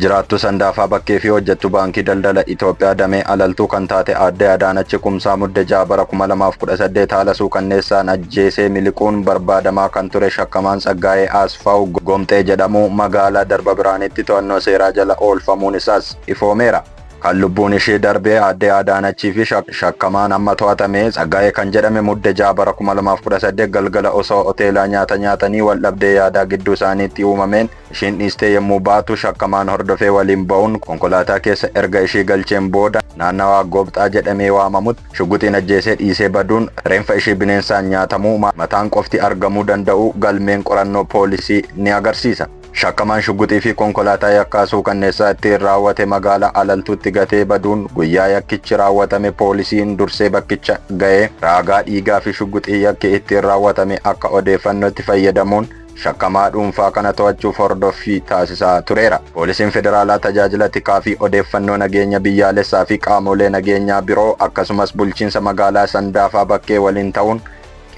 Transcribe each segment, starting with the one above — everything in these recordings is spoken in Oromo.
Jiraattuu Sandaafaa Bakkee fi hojjettuu Baankii Daldala Itoophiyaa damee Alaltuu kan taate Aadde Adaanachi Kumsaa Mudde 6 bara 2018 haala suukanneessaan ajjeesee miliquun barbaadamaa kan ture shakkamaan Tsaggaayee Asfaaw Gomxee jedhamu magaalaa Darba Birhaanitti to'annoo seeraa jala oolfamuun isaas ifoomeera. Kan lubbuun ishee darbe Aadde Adaanachii fi shakkamaan amma to'atame Tsaggaayee kan jedhame Mudde 6 bara 2018 galgala osoo hoteelaa nyaata nyaatanii waldhabdee yaadaa gidduu isaaniitti uumameen Ishiin dhiistee yommuu baatu shakkamaan hordofee waliin ba'uun konkolaataa keessa erga ishii galcheen booda naannawaa Goobxaa jedhamee waamamutti shugguxiin ajjeesee dhiisee baduun reenfa ishii bineensaan nyaatamuu mataan qofti argamuu danda'uu galmeen qorannoo poolisii ni agarsiisa. Shakkamaan shugguxii fi konkolaataa yakkaa suukanneessaa ittiin raawwate magaalaa Alaltuutti gatee baduun guyyaa yakkichi raawwatame poolisiin dursee bakkicha ga'ee raagaa dhiigaa fi shugguxii yakki ittiin raawwatame akka odeeffannootti fayyadamuun shakkamaa dhuunfaa kana to'achuuf hordoffii taasisaa tureera. Poolisiin Federaalaa Tajaajila Tikaa fi Odeeffannoo Nageenya Biyyaalessaa fi qaamoolee nageenyaa biroo akkasumas Bulchiinsa Magaalaa Sandaafaa Bakkee waliin ta'uun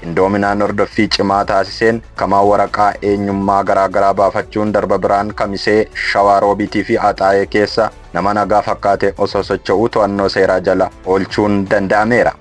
qindoominaan hordoffii cimaa taasiseen shakkamaa waraqaa eenyummaa garaa garaa baafachuun darba biraan Kamisee, Shawaa Roobiitii fi Axaayee keessa nama nagaa fakkaatee osoo socho'uu to'annoo seeraa jala oolchuun danda'ameera.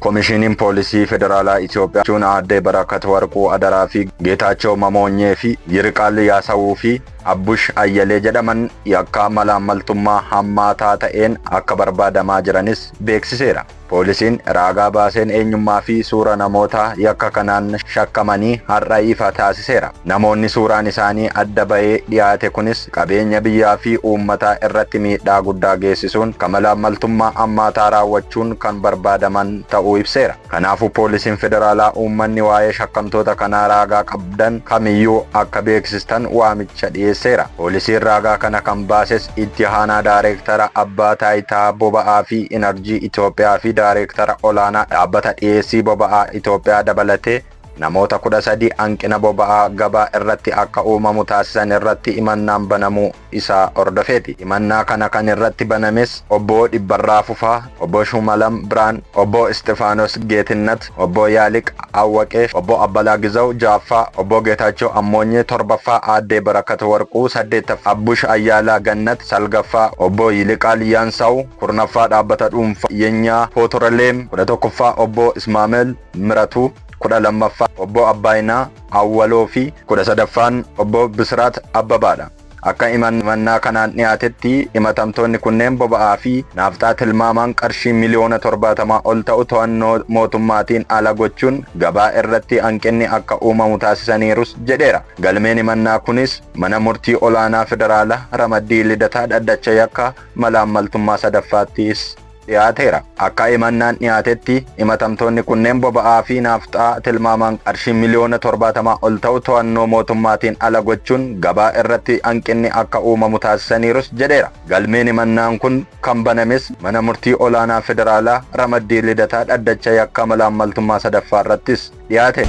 Komishiiniin Poolisii Federaalaa Itiyoophiyaa jechuun Aadde Barakat Warquu Adaraa fi Geetaachoo Mamoonyee fi Yiriqaal Yaasawuu fi Abbush Ayyalee jedhaman yakkaa malaammaltummaa hammaataa ta'een akka barbaadamaa jiranis beeksiseera. Poolisiin raagaa baaseen eenyummaa fi suura namoota yakka kanaan shakkamanii har'a ifa taasiseera. Namoonni suuraan isaanii adda ba'ee dhiyaate kunis qabeenya biyyaa fi uummataa irratti miidhaa guddaa geessisuun ka mala maltummaa ammaataa raawwachuun kan barbaadaman ta'uu ibseera. Kanaafuu Poolisiin Federaalaa uummanni waa'ee shakkamtoota kanaa raagaa qabdan kamiyyuu akka beeksistan waamicha dhiyeesseera. Poolisiin raagaa kana kan baases Itti Aanaa Daareektara Abbaa Taayitaa Boba'aa fi Inarjii Itoophiyaa fi Daareektara Olaanaa Dhaabbata Dhiyeessii Boba'aa Itoophiyaa dabalatee, Namoota 13 hanqina boba'aa gabaa irratti akka uumamu taasisan irratti himannaan banamuu isaa hordofeeti. Himannaa kana kan irratti banames Obbo Dhibbarraa Fufaa, Obbo Shuumalam Birhaan, Obbo Isxifaanos Geetinnat, Obbo Yaaliq Awwaqee, Obbo Abbalaa Gizaw 6ffaa, Obbo Geetaachoo Ammoonyee 7ffaa, Aaddee Barakat Warquu 8ffaa, Abbush Ayyaalaa Gannat 9ffaa, Obbo Yiliqaal Yaansaw 10ffaa, Dhaabbata Dhuunfaa Yenyaa Pootoraleem 11ffaa, Obbo Ismaamel Miratuu, 12ffaa Obbo Abbaayinaa Awwaloo fi 13ffaan Obbo Bisiraat Abbabaa dha. Akka himannaa kanaan dhiyaatetti himatamtoonni kunneen boba'aa fi naafxaa tilmaamaan qarshii miliyoona 70 ol ta'u to'annoo mootummaatiin ala gochuun gabaa irratti hanqinni akka uumamu taasisaniirus jedheera. Galmeen himannaa kunis Mana Murtii Olaanaa Federaalaa Ramaddii Lidataa Dhaddacha Yakka Malaammaltummaa 3ffaattis. dhiyaateera. Akka imannaan dhiyaatetti himatamtoonni kunneen boba'aa fi naafxaa tilmaamaan qarshii miliyoona 70 ol ta'u to'annoo mootummaatiin ala gochuun gabaa irratti hanqinni akka uumamu taasisaniirus jedheera. Galmeen himannaan kun kan banames Mana Murtii Olaanaa Federaalaa Ramaddii Lidataa dhaddacha yakka malaammaltummaa 3ffaa irrattis dhiyaate.